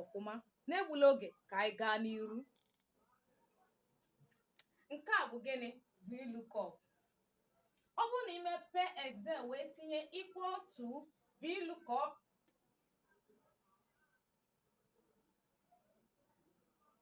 ọfụma n'egbula oge ka anyị gaa n'iru nke a bụ gịnị vlookup ọ bụrụ na i mepee excel wee tinye equal to vlookup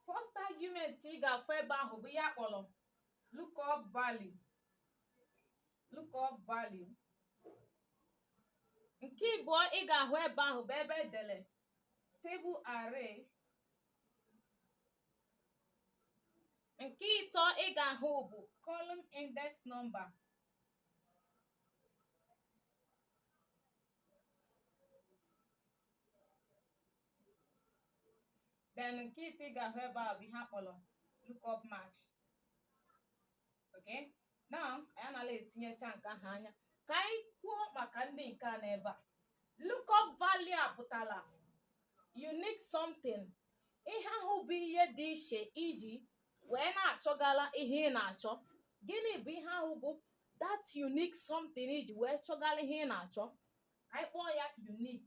first argument ị ga-afụ ebe ahụ bụ ihe a kpọrọ lookup value lookup value nke ịbụọ ị ga-ahụ ebe ahụ bụ ebe e dere table array nke ịtọ ị ga-ahụ bụ column index number then nke ịtọ ị ga-ahụ ebe a bụ ihe a kpọrọ lookup match okay now anyị anala etinyecha nke ahụ anya ka anyị kwuo maka ndị nke a n'ebe a lookup value a pụtara unique something ihe ahụ bụ ihe dị iche i ji wee na-achọgala ihe ị na-achọ gịnị bụ ihe ahụ bụ that unique something i ji wee chọgala ihe ị na-achọ ka anyị kpọọ ya unique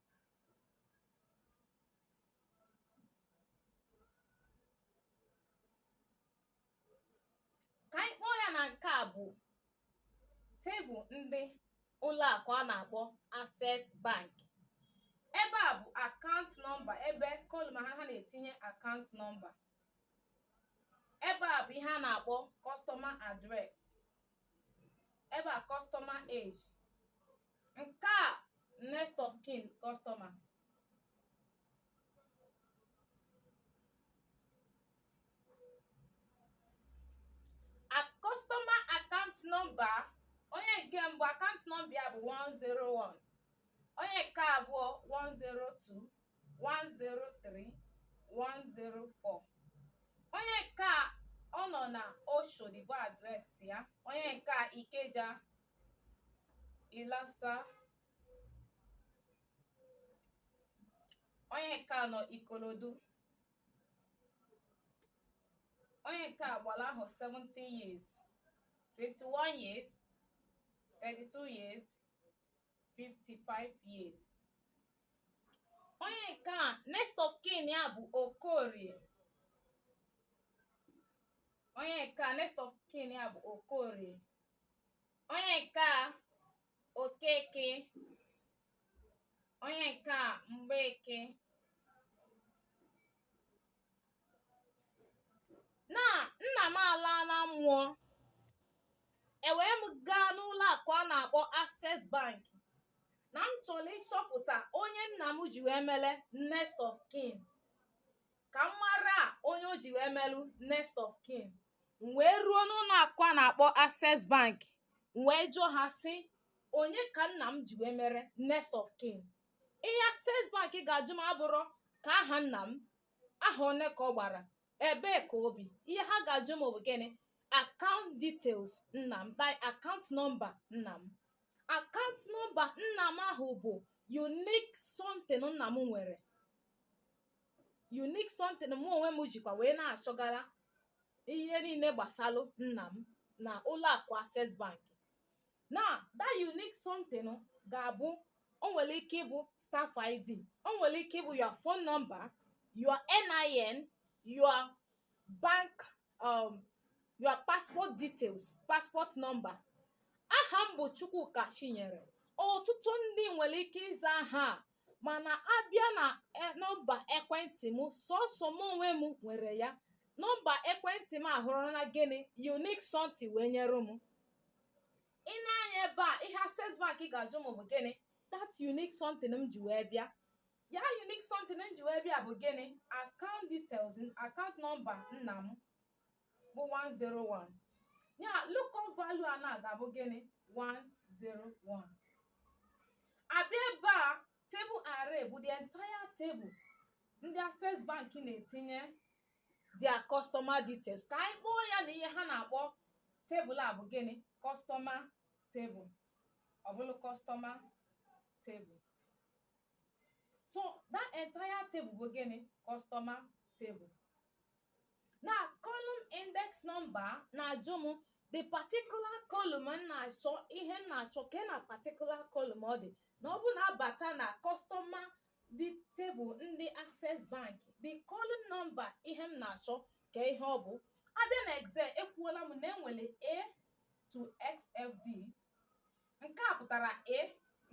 ka anyị kpọọ ya na nke a bụ table ndị ụlọ akụ a na-akpọ Access Bank ebe a bụ account number ebe column ha ha na-etinye account number ebe a bụ ihe a na-akpọ customer address ebe a customer age nke a next of kin customer a customer account number onye nke mbụ account number ya bụ 101 onye nke abụọ 102 103 104 onye nke a ọ nọ na oshodi bụ address ya onye nke a ikeja Ilasa onye nke a nọ Ikorodu onye nke a gbara ahọ 17 years 21 years 32 years 55 years onye nke a next of kin ya bụ Okorie onye nke a next of kin ya bụ Okorie onye nke a okeke onye nke a mgbeke na nna m alaala mmụọ ewee m gaa n'ụlọ akụ a na-akpọ access bank na m chọrọ ịchọpụta onye nna m ji wee mere next of kin ka m mara onye o ji wee melụ next of kin m wee ruo n'ụlọ akụ a na-akpọ access bank m wee jụọ ha sị onye ka nna m ji wee mere next of kin ihe access bank ga-ajụ m abụrọ ka aha nna m ahọ one ka ọ gbara ebee ka o bi ihe ha ga-ajụ m bụ gịnị account details nna m like account number nna m account number nna m ahụ bụ unique something nna m nwere unique something mụ onwe m jikwa wee na-achọgara ihe niile gbasalụ nna m na ụlọ akụ access bank na that unique something ga-abụ o nwere ike ịbụ staff id o nwere ike ịbụ your phone number your nin your bank um, your passport details passport number aha m bụ chukwuka chinyere ọtụtụ ndị nwere ike ịza aha a mana a bịa na e, nọmba ekwentị m sọsọ m onwe m nwere ya nọmba ekwentị m ahụrụ na gịnị unique something wee nyere m i nee anya ebe a ihe access bank ga-ajụ m bụ gịnị that unique something m ji wee bịa ya unique something m ji wee bịa bụ gịnị account details account nọmba nna m bụ 101 ya lookup value a na ga-abụ gịnị 101 a bịa ebe a table array bụ the entire table ndị access bank na-etinye their customer details ka anyị kpọọ ya na ihe ha na-akpọ table a bụ gịnị customer table ọ bụrụ customer table so that entire table bụ gịnị customer table na column index number na-ajụ m the particular column m na-achọ ihe m na-achọ kee na particular column ọ dị na ọ bụ na a bata na customer the table ndị access bank the column number ihe m na-achọ ka ihe ọ bụ a bịa na excel ekwuola m na e nwere a to xfd nke a pụtara a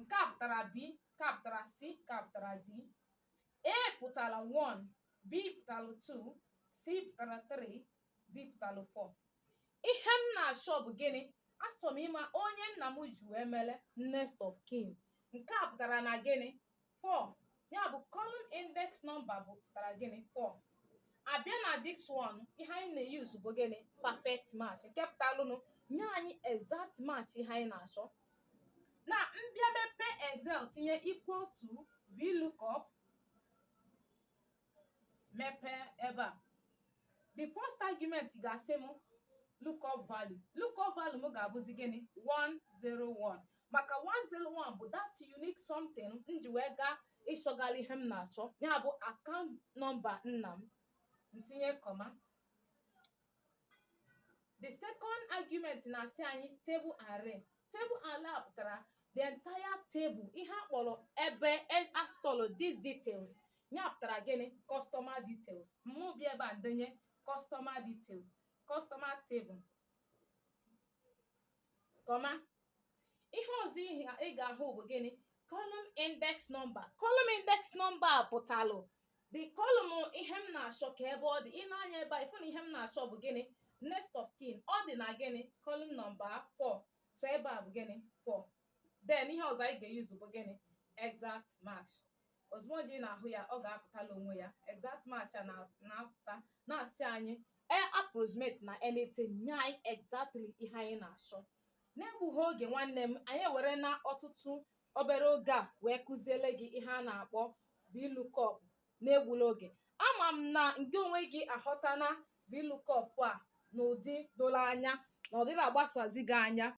nke a pụtara b nke a pụtara c nke a pụtara d A pụtara 1, B pụtara 2, C pụtara 3, D pụtara 4. Ihe m na-achọ bụ gịnị? Achọrọ m ịma onye nna m ji wee mere next of kin. Nke a pụtara na gịnị? 4. Ya bụ column index number bụ pụtara gịnị? 4. A bịa na this one, ihe anyị na-use bụ gịnị? Perfect match. Nke pụtalụnụ nye anyị exact match ihe anyị na-achọ. na m bịa mepe excel tinye equal to vlookup mepee ebe a the first argument ga-asị m lookup value lookup value m ga-abụzi gịnị 101 maka 101 bụ that unique something m ji wee gaa ịchọgharị ihe m na-achọ ya bụ account number nna m ntinye comma the second argument na-asị anyị table array table array pụtara the entire table ihe a kpọrọ ebe e- a stọlụ these details ya pụtara gịnị customer details mụ bịa ebe a ndenye customer detail customer table comma ihe ọzọ ị ga-ahụ bụ gịnị column index number column index number pụtalụ the column ihe m na-achọ ka ebe ọ dị i nee anya ebe a ị fụ na ihe m na-achọ bụ gịnị next of kin ọ dị na gịnị column number 4 so ebe a bụ gịnị 4 then ihe ọzọ anyị ga-use bụ gịnị exact match ozugbo ji na-ahụ ya ọ ga-apụtala onwe ya exact match a na- na-apụta na-asị anyị e approximate na anything nye anyị exactly ihe anyị na-achọ n'egbughị oge nwanne m anyị ewerena ọtụtụ obere oge a wee kụziele gị ihe a na-akpọ VLOOKUP n'egbula oge ama m na nke onwe gị aghọtana VLOOKUP a n'ụdị doro anya na ọ dịghị agbasazi gị anya